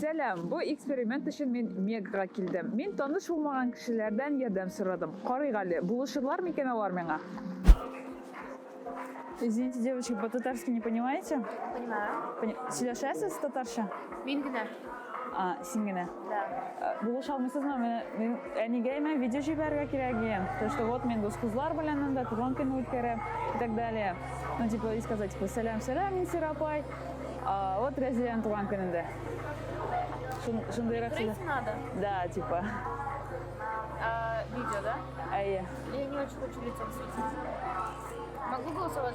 Сәлам, бу эксперимент өчен мин Мегага килдем. Мин таныш булмаган кешеләрдән ярдәм сорадым. Карыйк әле, булышырлар микән алар миңа? Извините, девочки, по-татарски не понимаете? Понимаю. Пони... Сөйләшәсез татарча? Мин генә. А, син генә? Да. Э, Булыша алмыйсызмы? Мин әнигә имә видео җибәрергә кирәк дигән. То, что вот мин дус кызлар белән анда туган көн үткәрәм и так далее. Ну, типа, и сказать, типа, сәлам, сәлам, мин Сирапай. А, вот Разиянең туган көнендә. Шундыйрак сүз. надо? Да, типа. А, видео, да? Әйе. Я не очень хочу лицом светить. Могу голосовать?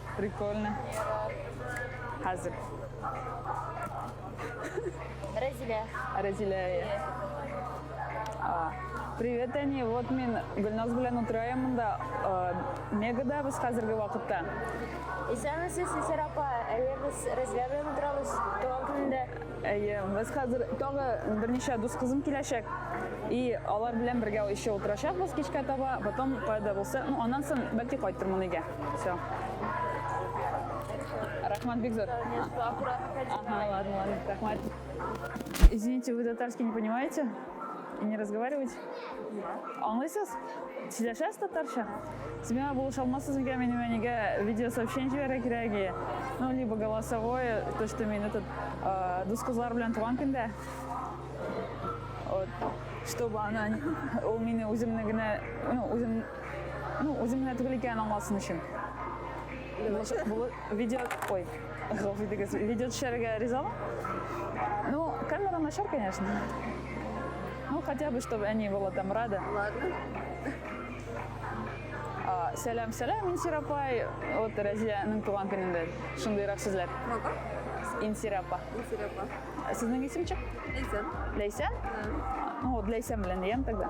Прикольно. Хәзер. Рәзилә. Рәзилә. А. Привет, Әни. Вот мин Гөлназ белән утырайым монда. Мегада без хәзерге вакытта. Исәнмесез, Исәр апа. Әйе, без Рәзилә белән утырабыз туган көнендә. Әйе, без хәзер тагы берничә дус кызым киләчәк. И алар белән бергә еще утырачакбыз кичкә таба. Потом кайда булса, ну аннан соң бәлки кайтырмын өйгә. Все. Рахмат бик зор. Ага, ладно, ладно, рахмат. Извините, вы татарский не понимаете? И не разговариваете? Аңлайсыз? Сөйләшәсез татарча? Сез миңа булыша алмассыз микән минем әнигә видеосообщение җибәрә кирәге? Ну, либо голосовое, то, что мин этот э, дус кызлар белән туган көндә. Вот. Чтобы она, ул мине үземне генә, ну, үзем Ну, үзем генә түгел икәнен аңласын өчен. Видео, ой, гафу итегез, видео төшәргә ризамы? Ну, камера начар, конечно. Ну, хотя бы, чтобы они были там рады. Ладно. А, сәлам, сәлам, Инсирапай. Вот Разиянең туган көнендә шундыйрак сүзләр. Мага? Инсирапа. Инсирапа. Сезнең исемчек? Ләйсән. Ләйсән? Ну, вот Ләйсән белән дигән тогда.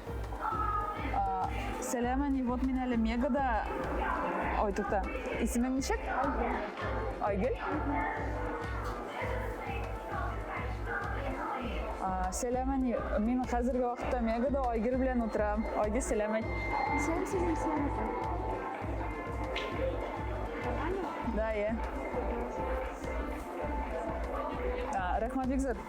Сәләм, әни, вот мин әле Мегада. Ой, тукта. Исемең ничек? Айгөл. Сәләм, әни. Мин хәзерге вакытта Мегада Айгөл белән утырам. Айгөл, сәләм әйт. Сәләм, сәләм, сәләм. Да, я. Рәхмәт, бик зур.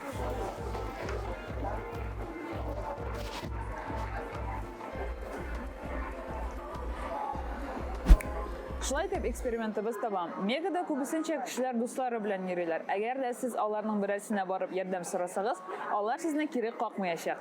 Шулай итеп экспериментыбыз таба. Мегада күбесенчә кешеләр дуслары белән йөриләр. Әгәр дә сез аларның берәрсенә барып ярдәм сорасагыз, алар сезне кире какмыячак.